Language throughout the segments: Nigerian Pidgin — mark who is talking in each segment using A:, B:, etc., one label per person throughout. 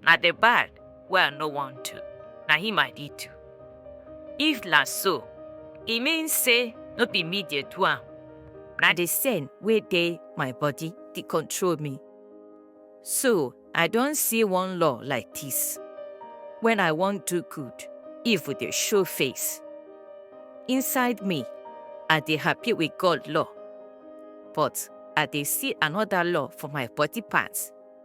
A: Na the bad wey I no wan do, na him I dey do. If na so, e mean say no be me dey do am, na the sin wey dey my body dey control me. So I don see one law like this. When I wan do good, evil dey show face. Inside me, I dey happy with God law, but I dey see another law for my body parts.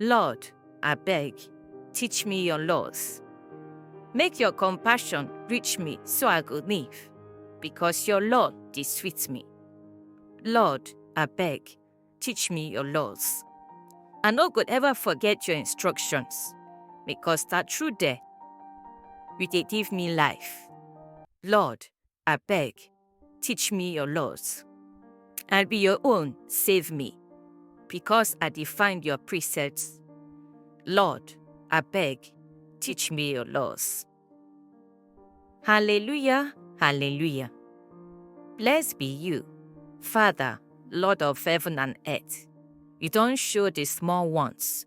A: Lord, abeg, teach me your laws. Make your compassion reach me so I go live, because your law dey sweet me. Lord, abeg, teach me your laws. I no go ever forget your instructions, because na through there you dey give me life. Lord, Abeg, teach me your laws. I be your own, save me, because I dey find your precepts. Lord, abeg, teach me your laws. Hallelujah, hallelujah. Blessed be you, Father, Lord of heaven and earth. You don show the small ones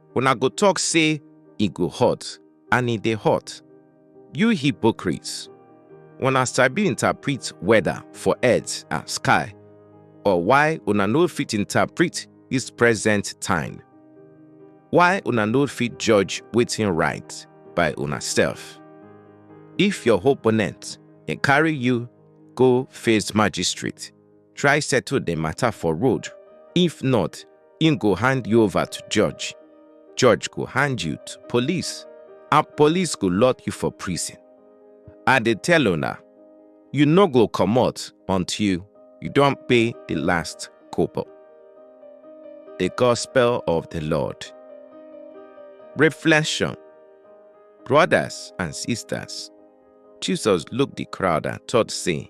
A: Una go talk say e go hot and e dey hot. You hypocrites! Una sabi interpret weather for earth and sky, but why una no fit interpret this present time? Why una no fit judge wetin right by una self? If your opponent dey carry you go face magistrate, try settle the matter for road. If not, im go hand you over to judge. Judge go hand you to police, and police go lock you for prison. I dey tell una, you no go comot until you don pay the last kobo. The Gospel of the Lord. Reflection Brothers and sisters, Jesus looked the crowd and thought, saying,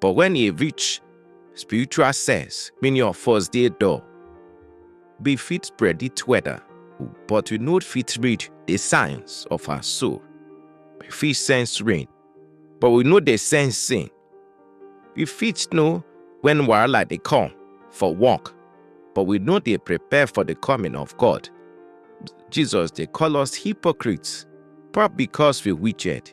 A: But when e reach spiritual sense, mean your first day door, be fit predict weather, but you not fit read the signs of her soul. We fit sense rain, but we know the sense sin. We fit know when wahala dey come for work, but we no dey prepare for the coming of God. Jesus dey call us hypocrites, but because we wicked.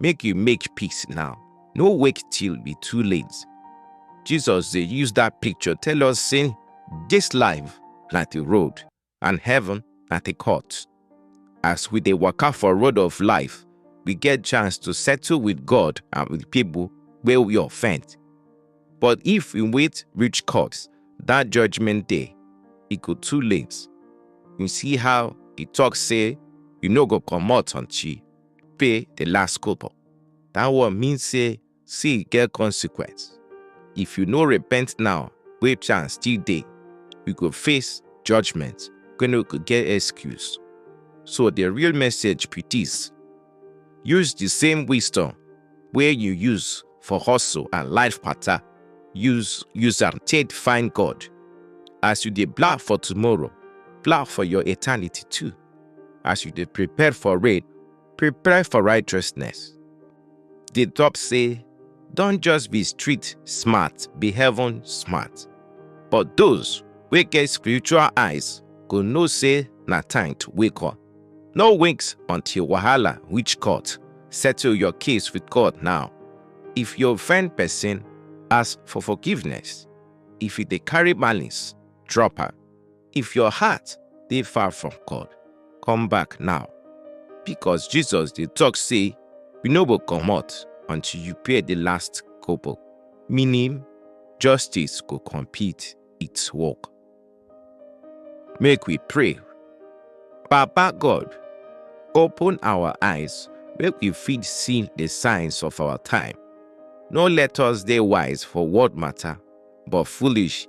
A: make you make peace now no wait till e too late jesus dey use dat picture tell us say dis life na the road and heaven na the court as we dey waka for road of life we get chance to settle with god and with people wey we offend but if we wait reach court dat judgment day e go too late you see how e talk say you no go comot until pay the last kobo. That one mean say sin get consequence. If you no repent now, wey chance still dey, you go face judgment wey no go get excuse. So the real message be this. Use the same wisdom wey you use for hustle and life matter, use use am take find God. As you dey plan for tomorrow, plan for your eternity too. As you dey prepare for rain, prepare for righteousness. Dey talk say, don just be street smart, be heaven smart. But those wey get spiritual eyes go know say na time to wake up. No wait until wahala reach court. Settle your case with God now. If you offend person, ask for forgiveness. If you dey carry malice, drop am. If your heart dey far from God, come back now. Because Jesus dey talk say you no go comot until you pay the last kobo, meaning justice go complete its work. Make we pray. Baba God, open our eyes make we fit see the signs of our time. No let us dey wise for world matter, but foolish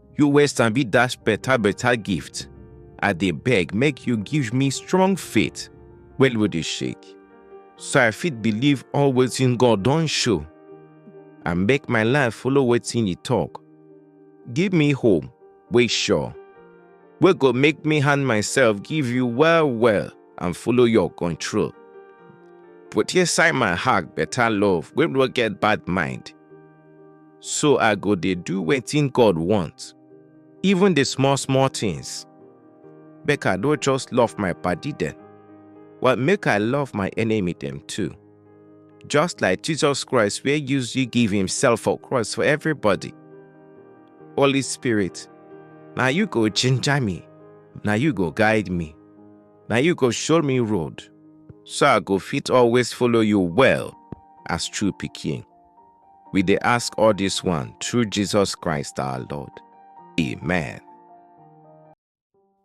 A: You wey sabi dash better better gift, I dey beg make you give me strong faith wey no dey shake, so I fit believe all wetin God don show and make my life follow wetin e talk. Give me hope wey sure, wey go make me hand myself give you well well and follow your control. Put inside my heart better love wey no get bad mind. So I go dey do wetin God want, even the small small things. Make I no just love my padi dem, but make I love my enemy dem too. Just like Jesus Christ wey use you give himself for cross for everybody. Holy Spirit, na you go ginger me, na you go guide me, na you go show me road, so I go fit always follow you well as true pikin. We dey ask all this one through Jesus Christ our Lord. Amen.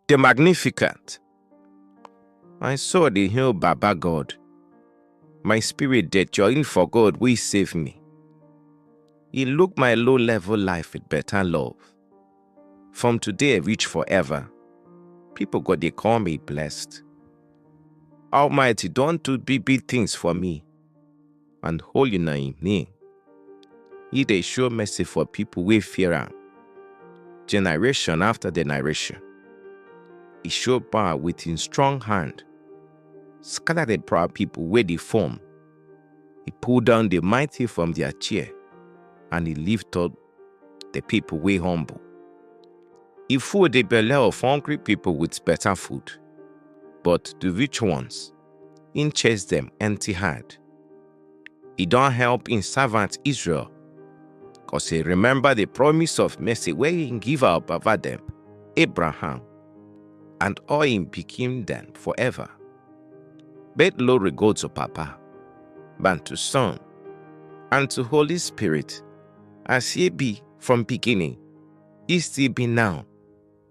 A: The Magnificent. My soul dey hail Baba God. My spirit dey join for God wey save me. He look my low level life with better love. From today reach forever, people go dey call me blessed. Almighty don do big big things for me. and holy na im name. He dey show mercy for people wey fear am, generation after generation. He show power with him strong hand, scatter the proud people wey dey form. He pull down the mighty from their chair, and he lift up the people wey humble. He full the belle of hungry people with better food, but the rich ones im chase dem empty hand. E don help im servant Israel, cos e remember the promise of mercy wey im give our baba dem, Abraham, and all im pikin dem forever. But glory go to Papa, and to Son, and to Holy Spirit, as e be from beginning, e still be now,